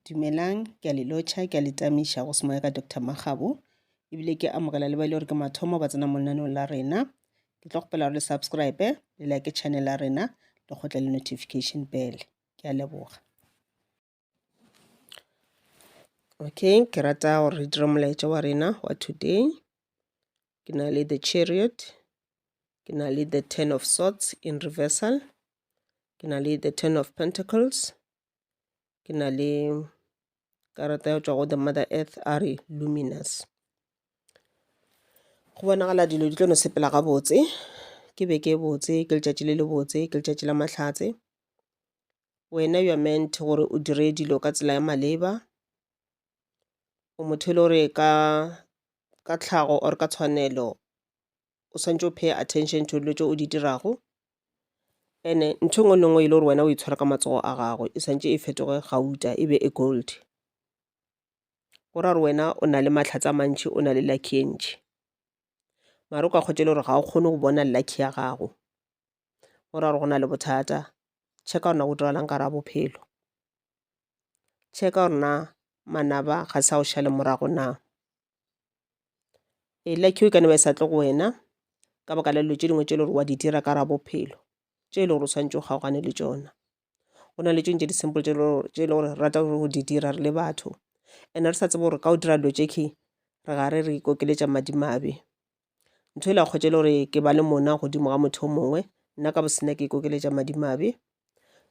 Dumelang, ke a le lotšha, ke a le tamiša go semoya ka Doctor Makgabo, ebile ke amogela le ba e le gore ke mathomo ba tsena mo lenaneong la rena. Ke tlo kgopela gore le subscribe, le like channel ya rena, le kgotle le notification bell. Ke a leboga. Okay, ke rata gore re dire molaetša wa rena wa today. Ke na le the chariot, ke na le the ten of swords in reversal, ke na le the ten of pentacles ke na le karata ya tšwa go the mother earth a re luminous go bonagala dilo di tlo no sepela gabotse ke be ke botse ke letšatši le le botse ke letšatši la mahlatse wena you are meant gore o dire dilo ka tsela ya maleba o motho e le gore ka ka tlhago or ka tshwanelo o swanetše o pay attention to dilo tše o di dirago ene ntho engwe le ngwe e le gore wena o itshwara ka matsogo a gago e santse e fetoge gauta e be e gold go ra gore wena o na le mahlatse a mantšhi o na le lucky e ntšhi mare o ka kgotse e le gore ga o kgone go bona lucky ya gago go ra gore go na le bothata check-a gore na go diragalang ka ra bophelo check-a gore na manaba ga sa o šale morago na e like you e ka no ba e sa tle go wena ka baka la dilo tše dingwe tše e le gore wa di dira ka gare ga bophelo tše e le gore o swanetše o kgaogane le tšona go na le tše dingwe tše di simple tše e le gore re rata go di dira re le batho and re sa tsebe gore ka o dira dilo tše key re gare re ikokeletša madimabe ntho e la kgwetša e le gore ke ba le monna godimo ga motho o mongwe nna ka bosena ke ikokeletša madimabe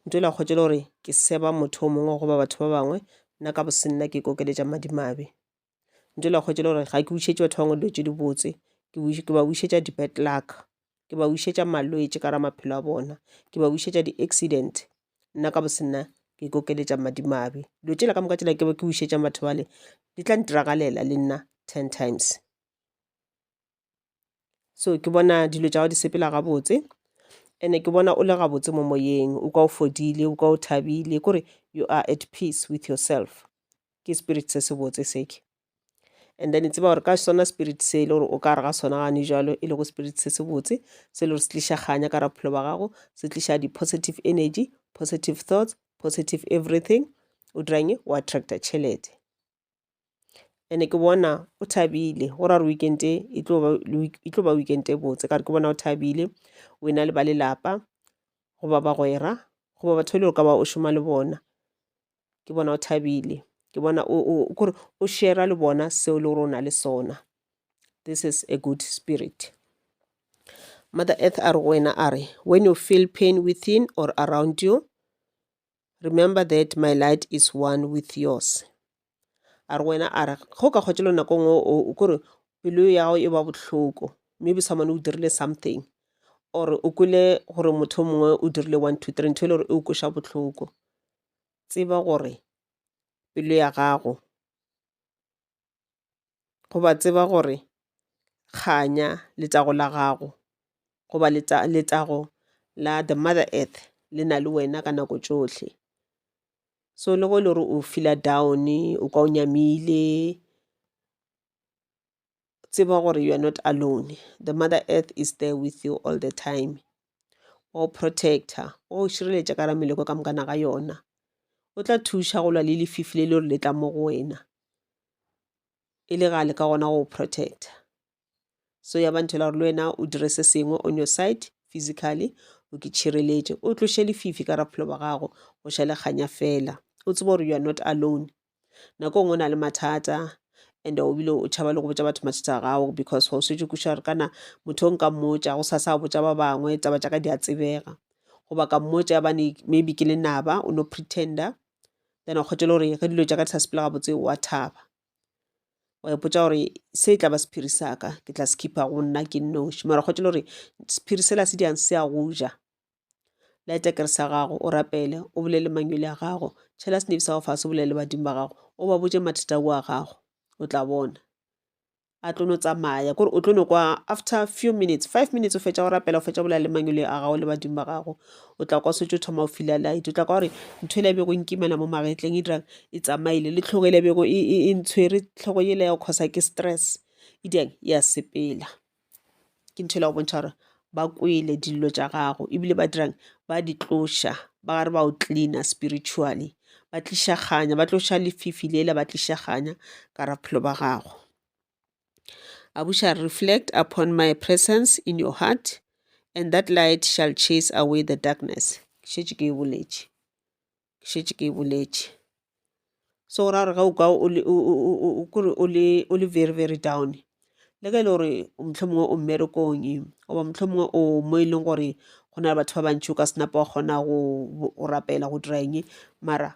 ntho e la kgwetša e le gore ke seba motho o mongwe goba batho ba bangwe nna ka bosena ke ikokeletša madimabe ntle la kgwetšele gore ga ke wišetše batho bangwe dilo tše di botse ke ba wišetša di bad luck ke ba wišetša malwetši ka ra maphelo a bona ke ba wišetša di accident nna ka bo se nna ke ikokeletša madimabe dilo tšela ka moka tšela ke ke wišetša batho bale di tla ntiragalela le nna ten times. so ke bona dilo tša gago di sepela gabotse and-e ke bona o le gabotse mo moyeng o kwa o fodile o kwa o thabile kore you are at peace with yourself ke spirit se se botse seke and then tseba gore ka sona spirit se e le gore o ka re ga sona gane jalo e le go spirit se se botse se e le gore se tliša kganya ka ra bophelo ba gago se tliša di-positive energy positive thoughts positive everything o dirang wa attracta tšhelete ene ke bona o thabile go ra gore weekend e e tlo ba e tlo ba weekend e botse ka re ke bona o thabile o ena le ba lelapa goba bagwera goba batho e le gore ka ba o šoma le bona ke bona o thabile ke bona o o- o- kore o shera le bona seo le gore o na le sona this is a good spirit mother earth a re go wena a re when you feel pain within or around you Remember that my light is one with yours. A re wena a re go ka kgwetše le nako ngwe o kore pelo ya gago e ba bohloko maybe someone o dirile something or o kwele gore motho mongwe o dirile one two three ntho e le gore e o kweša bohloko tseba gore pelo ya gago goba tseba gore kganya letago la gago goba letago la the mother earth le na le wena ka nako tšohle. So le ge e le gore o feeler down, o kwa o nyamile, tseba gore you are not alone. The mother earth is there with you all the time. Wa go protector, wa go šireletša ka gare ga meleko ka moka na ga yona. O tla thuša go lwa le lefifi le le gore le tla mo go wena. e le ga le ka gona go protecta so ya ba nthela gore le wena o dire se sengwe on your side physically o ke tšhireletše o tloše lefifi ka raphelo ba gago go ša le kganya fela o tseba gore you are not alone nako ngwe o na le mathata and o bile o tšhaba le go botša batho mathata a gago because ga o swetse kuša gore kana motho o nka mmotša go sa sa botša ba bangwe taba tša ka di a tsebega goba ka mmotša bane maybe ke lenaba o no pretender then wa kgotela gore ge dilo tša ka di sa sepele gabotse wa thaba wa ipotsa gore se e tla ba sephiri sa ka ke tla se khipha go nna ke nnoši mara kgotela gore sephiri sela se diang se a go ja laetekere sa gago o rapele o bolele mangwele a gago tšhela senebi sa go fase o bolele badimo ba gago o ba botse mathata oa gago o tla bona a tlo no tsamaya kore o tlo no kwa after few minutes five minutes o fetša go rapela o fetša bolela le mangwele a gago le badimo ba gago o tla kwa setse o thoma o fila light o tla kwa gore ntho ele bego nkimana mo magetleng e dirang e tsamaile le tlhogo ele bego e, e, e ntshwere tlhogo ele ya go kgosa ke stress e dirang ya sepela ke ntho e la go bontšha gore ba kwele dillo tša gago ebile ba dirang ba di tloša ba gare ba o cleaner spiritually ba tliša kganya ba tloša lefifi lela ba tliša kganya ka ra bophelo ba gago I wish I reflect upon my presence in your heart and that light shall chase away the darkness ke šetše ke e boletše ke šetše ke e boletše. So go ra gore ge o kwa o le kore o le o le very very down, le ge e le gore mohlomongwe o mmerekong goba mohlomongwe o mo e leng gore go na le batho ba bantši o ka se napa wa kgona go go rapela go dira eng, mara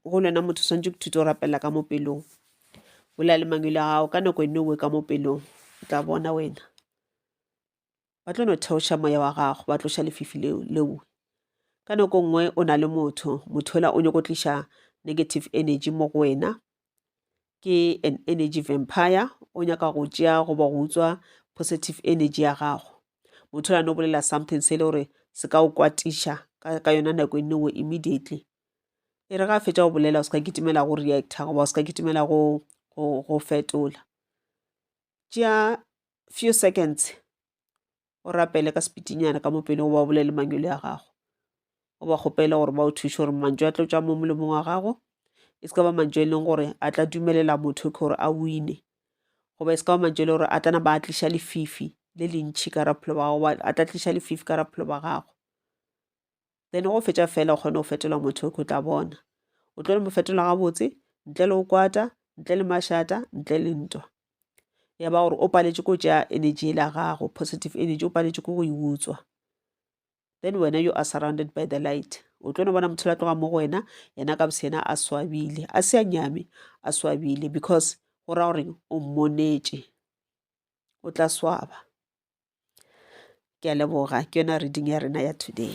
go le wena motho o swanetše go ithuta go rapela ka mo pelong. Bolela le Mangwele a gago ka nako e nngwe o bue ka mo pelong, o tla bona wena. ba tlo no theoša moya wa gago ba tloša lefifi leo lengwe ka nako nngwe o na le motho motho ola o nyoko tliša negative energy mo go wena ke an energy vampire o nyaka go tšea goba go utswa positive energy ya gago motho ola no bolela something se e le gore se ka o kwatiša ka yona nako e nngwe immediately e re ga fetša go bolela o se ka kitimela go reacta goba o se ka kitimela go fetola tšea few seconds o rapele ka sepitinyana ka mopele goba o bolele mangwele a gago o ba kgopele gore ba o thuše gore mantšu a tlo tšwa mo molomong wa gago e se ka ba mantšu e leng gore a tla dumelela motho ke gore a wine goba e se ka ba mantšu e le gore a tlana ba a tliša lefifi le lentšhi ka raphelo ba gago a tla tliša lefifi ka raphelo ba gago then go fetša fela o kgone go fetola motho o tla bona o tlo le mo fetola gabotse ntle le go kwata ntle le mašata ntle le ntwa ya ba gore o paletše ko tša energy e la gago positive energy o paletše ko go e utswa then wena you are surrounded by the light o tlo no bona motho la tloga mo go wena yena ka bose yena a swabile a se a nyame a swabile because go ra goreng o mmonetše o tla swaba Ke a leboga, ke yona reading ya rena ya today.